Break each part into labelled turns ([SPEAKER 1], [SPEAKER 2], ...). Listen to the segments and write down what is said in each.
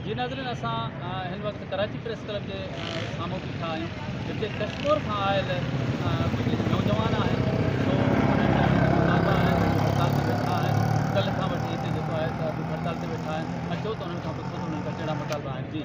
[SPEAKER 1] جي ناظرين اسان هن وقت ڪراچي پريس ڪلب جي سامهون بيٺا آهيون جتي ڪشمور کان آيل ڪجهه نوجوان آهن سو انهن جا هيٺ مطالبا آهن سو هڙتال تي ويٺا آهن ڪلهه کان وٺي هتي جيڪو آهي سو اڄ به هڙتال تي ويٺا آهن اچو ته انهن کان پڇو ته انهن جا ڪهڙا مطالبا آهن جي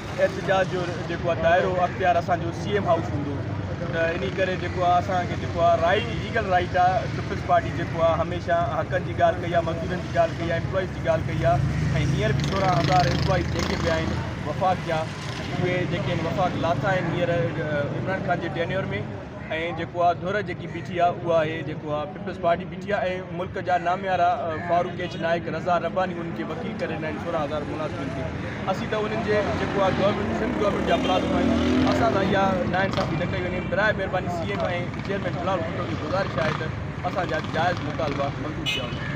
[SPEAKER 2] احتجاج جو جيڪو آهي دائرو اختيار اسان جو سي ايم هائوس هوندو ته انهي ڪري جيڪو آهي اسان کي جيڪو آهي رائيٽ ليگل رائيٽ آهي پيپلز پارٽي جيڪو آهي هميشه حقن جي ڳالهه ڪئي آهي مزدورن جي ڳالهه ڪئي آهي امپلائيز جي ڳالهه ڪئي آهي ۽ هينئر به سورهن هزار امپلائيز جيڪي به آهن وفاق جا اهي جيڪي آهن وفاق لاٿا آهن هينئر عمران خان جي ٽينيور ۾ ۽ جيڪو آ ڌر جيڪي بيٺي آ اها آهي جيڪو آ پيپلز پارٽي بيٺي آ ۽ ملڪ جا ناميارا فاروق ايچ نائيڪ رضا رباني انهن کي وڪيل ڪري ڏنا آهن سورهن هزار ملازمن کي اسين ته انهن جي جيڪو آ گورنمينٽ سنڌ گورنمينٽ جا ملازم آهيون اسان سان اها ناانصافي نه ڪئي وڃي براء مهرباني C M ۽ chairman Bilal Bhutto کي گذارش آهي ته اسان جا جائز مطالبا منظور ڪيا وڃن.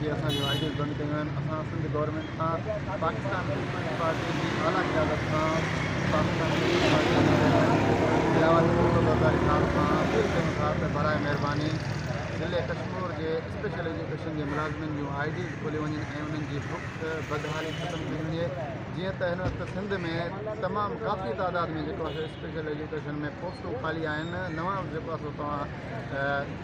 [SPEAKER 3] جي اسان جون آئيڊيز بند ڪيون آهن اسان سنڌ گورنمينٽ سان پاڪستان پيپلز پارٽي جي اعليٰ قيادت سان پاڪستان پيپلز پارٽي جي چيئرمين لياقت علي ڀٽو زرداري صاحب سان اپيل ڪيون ٿا ته براء مهرباني ضلعي ڪشمور جي اسپيشل ايجوڪيشن جي ملازمين جون آئيڊيز کوليون وڃن ۽ انهن جي بک بدحالي ختم ڪئي وڃي جيئن ته هن وقت سنڌ ۾ تمام ڪافي تعداد ۾ جيڪو آهي سو اسپيشل ايجوڪيشن ۾ پوسٽون خالي آهن نوان جيڪو آهي سو توهان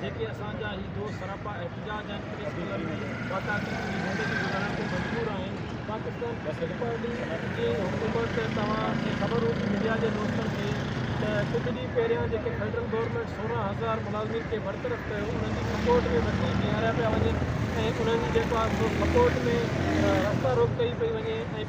[SPEAKER 4] جيڪي اسان جا هي دوست سراپا احتجاج آهن پريس ڪلب ۾ باقاعدي جي زندگي گذارڻ تي مجبور آهن پاڪستان پيپلز پارٽي جي حڪومت توهان کي خبر هوندي ميڊيا جي دوستن کي ته ڪجهه ڏينهن پهريان جيڪي فيڊرل گورنمينٽ سورهن هزار ملازمين کي برطرف ڪيو انهن جي سپورٽ ۾ وڪيل بيهاريا پيا وڃن ۽ انهن جي جيڪو آهي سو سپورٽ ۾ رستا روڪ ڪئي پئي وڃي ۽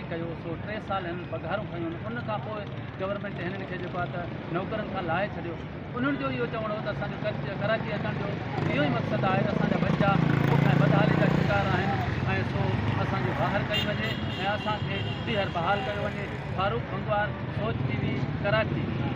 [SPEAKER 1] ڪيو سو ٽي سال هنن پگهارون کنيون هن ان کان پوء گورنمينٽ هنن کي جيڪو آهي ته نوڪرين کان لاهي ڇڏيو انهن جو اهو چوڻ هو ته اسان جو ڪچ ڪراچي اچڻ جو اهو ئي مقصد آهي ته اسان جا ٻچا بک ۽ بدحالي جا شڪار آهن ۽ سو اسان جي باهر ڪئي وڃي ۽ اسان کي ٻيهر بحال ڪيو وڃي فاروق بنگوار سوچ ٽي وي ڪراچي